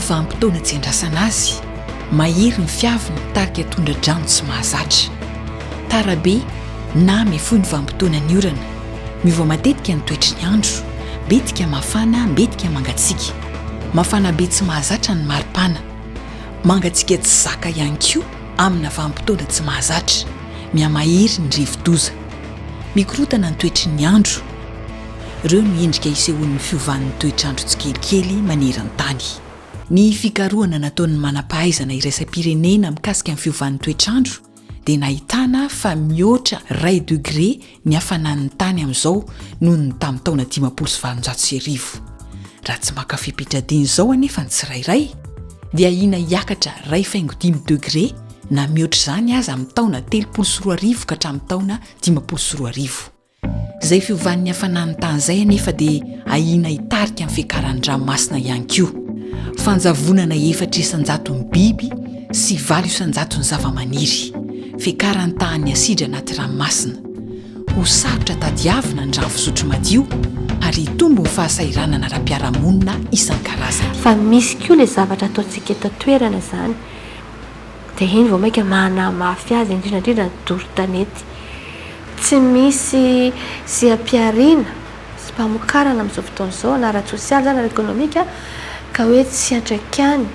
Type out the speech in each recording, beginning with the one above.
vanim-potoana tsy andrasana azy mahery ny fiaviny tarika tondra-drano tsy mahazatra tarabe na mifoy ny vanim-potoana ny orana Miova matetika ny toetry ny andro, betika mafana, betika mangatsiaka. Mafana be tsy mahazatra ny maripana. Mangatsiaka tsy zaka ihany koa amina vanim-potoana tsy mahazatra. Mihamahery ny rivodoza. Mikorotana ny toetry ny andro. Ireo no endrika isehoan'ny fiovan'ny toetr'andro tsikelikely maneran-tany. Ny fikarohana nataon'ny manam-pahaizana iraisam-pirenena mikasika ny fiovan'ny toetr'andro dia nahitana fa mihoatra iray degre ny hafanan'ny tany amin'izao noho ny tamin'ny taona dimampolo sy valonjato sy arivo. Raha tsy maka fe-pitradiana izao anefa ny tsirairay, dia ahiana hiakatra iray faingo dimy degre na mihoatra izany aza amin'ny taona telopolo sy roa arivo ka hatramin'ny taona dimampolo sy roa arivo. Izay fiovan'ny hafanan'ny tany izay anefa dia ahiana hitarika ny fiakaran'ny ranomasina ihany koa. Fanjavonana efatra isan-jaton'ny biby sy valo isan-jaton'ny zavamaniry. Fiakaran'ny tahan'ny asidra anaty ranomasina. Ho sarotra tadiavina ny rano fisotro madio ary hitombo ny fahasahiranana ara-piarahamonina isan-karazany. Fa misy koa ilay zavatra ataontsika eto an-toerana izany. Dia iny vao mainka manamafy azy, indrindra indrindra ny doro tanety. Tsy misy seha-pihariana sy mpamokarana amin'izao fotoana izao na ara-tsosialy izany na ara-ekonomika ka hoe tsy antraikany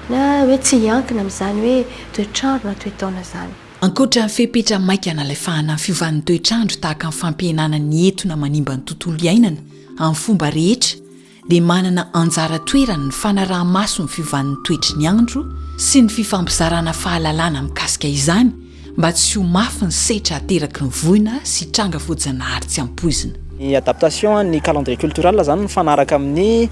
na hoe tsy hiankina amin'izany hoe toetr'andro na toe-taona izany. Ankoatra ny fepetra maika nalefahana ny fiovan'ny toetr'andro tahaka ny fampihenana ny etona manimba ny tontolo iainana amin'ny fomba rehetra, dia manana anjara toerany ny fanaraha-maso ny fiovan'ny toetry ny andro sy ny fifampizarana fahalalana mikasika izany mba tsy ho mafy ny setra ateraky ny voina sy tranga voajanahary tsy ampoizina. Ny adaptation an'ny calendrier cultural izany mifanaraka amin'ny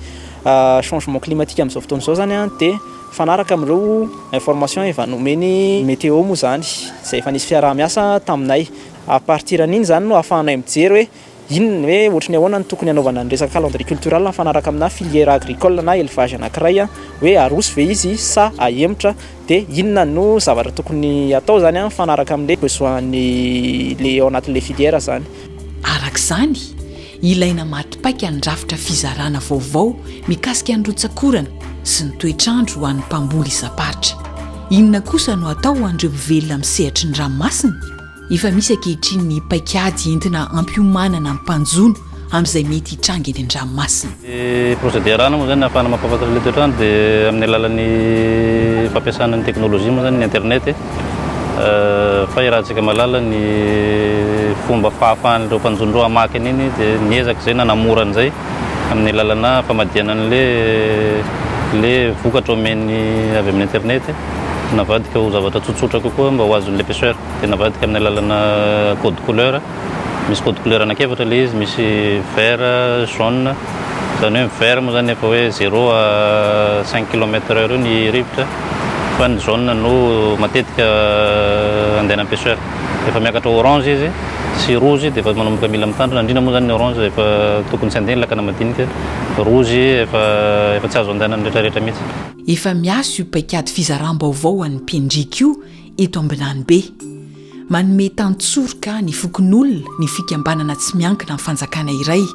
changement climatique amin'izao fotoana izao izany dia mifanaraka amin'ireo informations efa nomen'i Météo moa izany izay efa nisy fiaraha-miasa taminay. A partir an'iny izany no ahafahanay mijery hoe Inona, hoe ohatry ny ahoana no tokony hanaovana ny resaka calendrier cultural mifanaraka aminà filière agricole na élevage anankiray, hoe aroso ve izy sa ahemotra, dia inona no zavatra tokony hatao izany mifanaraka amin'ilay besoin-n'ilay ao anatin'ilay filière izany. Araka izany, ilaina maty paika ny rafitra fizarana vaovao mikasika ny rotsak'orana sy ny toetr'andro ho an'ny mpamboly isam-paritra. Inona kosa no hatao ho an'ireo mivelona amin'ny sehatry ny ranomasina? Efa misy ankehitriny ny paikady entina hampiomanana ny mpanjono amin'izay mety hitranga eny an-dranomasina. Ny procédé arahana moa izany ahafahana mampahafantatra ilay toetr'andro dia amin'ny alalan'ny fampiasana ny teknolojia moa izany ny internet fa irahantsika mahalala ny fomba fahafahan'ireo mpanjono ireo hamaky an'iny dia miezaka izay na namora an'izay amin'ny alalana famadihana an'ilay ilay vokatra omen'ny avy amin'ny internet navadika ho zavatra tsotsotra kokoa mba ho azon'ilay pêcheur. dia navadika amin'ny alalana code couleur, misy code couleur anankiefatra ilay izy, misy vert, jaune, izany hoe ny vert moa izany efa hoe zéro à cinq kilomètre heure eo ny rivotra fa ny jaune no matetika andehanan'ny pêcheur, rehefa miakatra orange izy sy rouge dia efa manomboka mila mitandrina, indrindra moa izany ny orange efa tokony tsy handeha ny lakana madinika, rouge efa efa tsy azo andehanan'ny rehetrarehetra mihitsy. Efa miasa io paikady fizaram-baovao ho an'ny mpendriaka io eto Ambinanibe. Manome tantsoroka ny fokonolona ny fikambanana tsy miankina amin'ny fanjakana iray.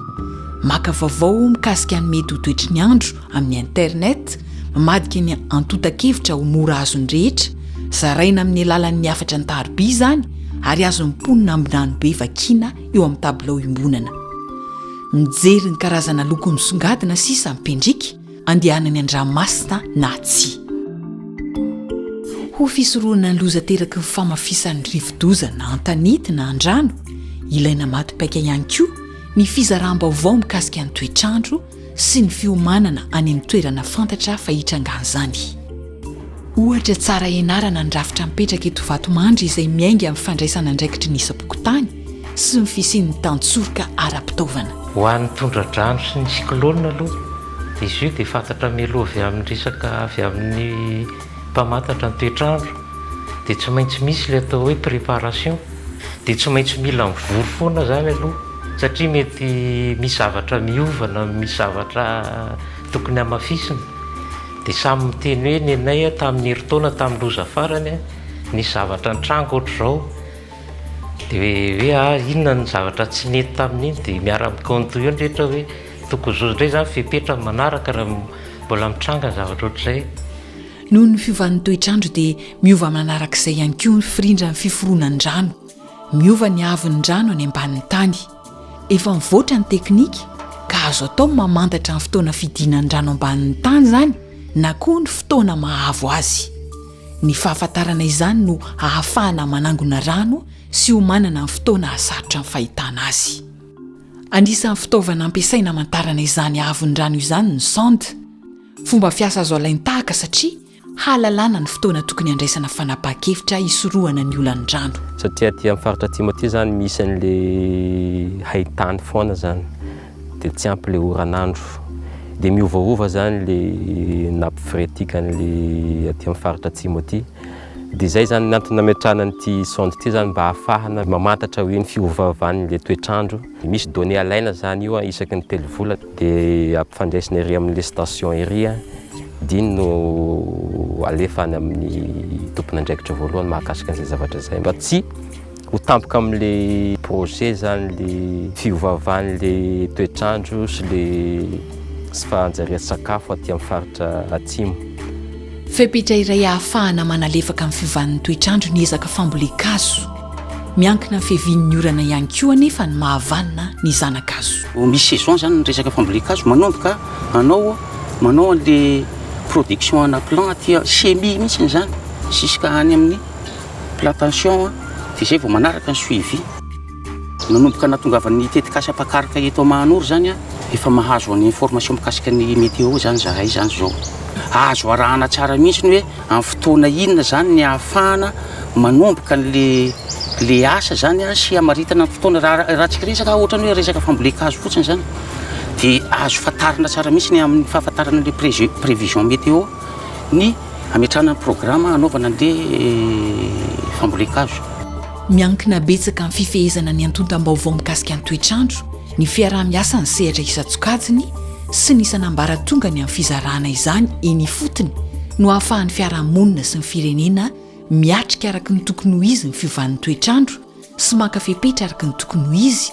Maka vaovao mikasika ny mety ho toetry ny andro amin'ny Internet, mamadika ny antontan-kevitra ho mora azon'ny rehetra, zaraina amin'ny alalan'ny hafatra an-tariby izany ary azon'ny mponina Ambinanibe vakiana eo amin'ny tabilao iombonana. Mijery ny karazana loko misongadina sisa ny mpendrika. andehanany an-dranomasina na tsia. Ho fisorohana ny loza ateraky ny famafisan'ny rivodoza na an-tanety na an-drano, ilaina maty paika ihany koa ny fizaràm-baovao mikasika ny toetr'andro sy ny fiomanana any amin'ny toerana fantatra fa hitrangan'izany. Ohatra tsara ianarana ny rafitra mipetraka eto Vatomandry izay miainga amin'ny fandraisan'andraikitry ny isam-pokontany sy ny fisian'ny tantsoroka ara-pitaovana. Ho an'ny tondra-drano sy ny cyclone aloha, izy io dia fantatra mialoha avy amin'ny resaka avy amin'ny mpamantatra ny toetr'andro, dia tsy maintsy misy ilay atao hoe préparation, dia tsy maintsy mila mivory foana izany aloha satria mety misy zavatra miova na misy zavatra tokony hamafisina, dia samy miteny hoe ny anay tamin'ny herintaona tamin'ny loza farany nisy zavatra nitranga ohatr'izao, Dia hoe ary inona no zavatra tsy nety tamin'iny dia miara-mikaonty eo ny rehetra hoe tokony zo indray izany fepetra ny manaraka raha mbola mitranga ny zavatra ohatr'izay. Noho ny fiovan'ny toetr'andro dia miova manarak'izay ihany koa ny firindran'ny fiforonan-drano. Miova ny haavon'ny rano any ambanin'ny tany. Efa mivoatra ny teknika ka azo atao ny mamantatra ny fotoana fidinan'ny rano ambanin'ny tany izany na koa ny fotoana mahavo azy. Ny fahafantarana izany no hahafahana manangona rano sy ho manana ny fotoana hahasarotra ny fahitana azy. Anisan'ny fitaovana ampiasaina hamantarana izany haavon'ny rano izany ny sonde. Fomba fiasa azo alain-tahaka satria hahalalana ny fotoana tokony handraisana fanapahan-kevitra hisorohana ny olan'ny rano. Satria aty amin'ny faritra atsimo aty izany misy an'ilay hain-tany foana izany dia tsy ampy ilay oran'andro dia miovaova izany ilay nappe phréatique an'ilay aty amin'ny faritra atsimo aty dia izay izany ny antony nametrahana an'ity sonde ity izany mba hahafahana mamantatra hoe ny fiovaovan'ilay toetr'andro. Misy données alaina zany io an, isaky ny telo volana dia ampifandraisina ery amin'ilay station ery an, dia iny no alefa any amin'ny tompon'andraikitra voalohany mahakasika an'izay zavatra izay mba tsy ho tampoka amin'ilay projet zany ilay fiovaovan'ilay toetr'andro sy ilay tsy fahanjarian-tsakafo aty amin'ny faritra atsimo. Fepetra iray ahafahana manalefaka amin'ny fiovan'ny toetr'andro ny ezaka fambolen-kazo. Miankina amin'ny fiavian'ny orana ihany koa anefa ny mahavanona ny zana-kazo. Vao misy saison izany ny resaka fambolen-kazo, manomboka anao manao an'ilay production ana plant aty, semis mihitsy izany, jusqu'à any amin'ny plantation, dia izay vao manaraka ny suivi. Nanomboka nahatongavan'ny tetikasa mpakaroka eto Mahanoro izany aho, efa mahazo an' information mikasika ny météo izany izahay izany izao. Azo arahana tsara mihitsy ny hoe amin'ny fotoana inona izany ny ahafahana manomboka an'ilay ilay asa izany sy hamaritana ny fotoana. Raha ahirantsika resaka ohatra ny hoe resaka fambolen-kazo fotsiny izany dia azo fantarina tsara mihitsy ny amin'ny fahafantarana ilay pré prévision météo ny hametrahana ny programa hanaovana an'ilay fambolen-kazo. Miankina betsaka amin'ny fifehezana ny antontam-baovao mikasika ny toetr'andro, ny fiaraha-miasan'ny sehatra isan-tsokajiny sy ny isan'ambaratongany amin'ny fizarana izany eny ifotony no ahafahan'ny fiarahamonina sy ny firenena miatrika araka ny tokony ho izy ny fiovan'ny toetr'andro sy maka fepetra araka ny tokony ho izy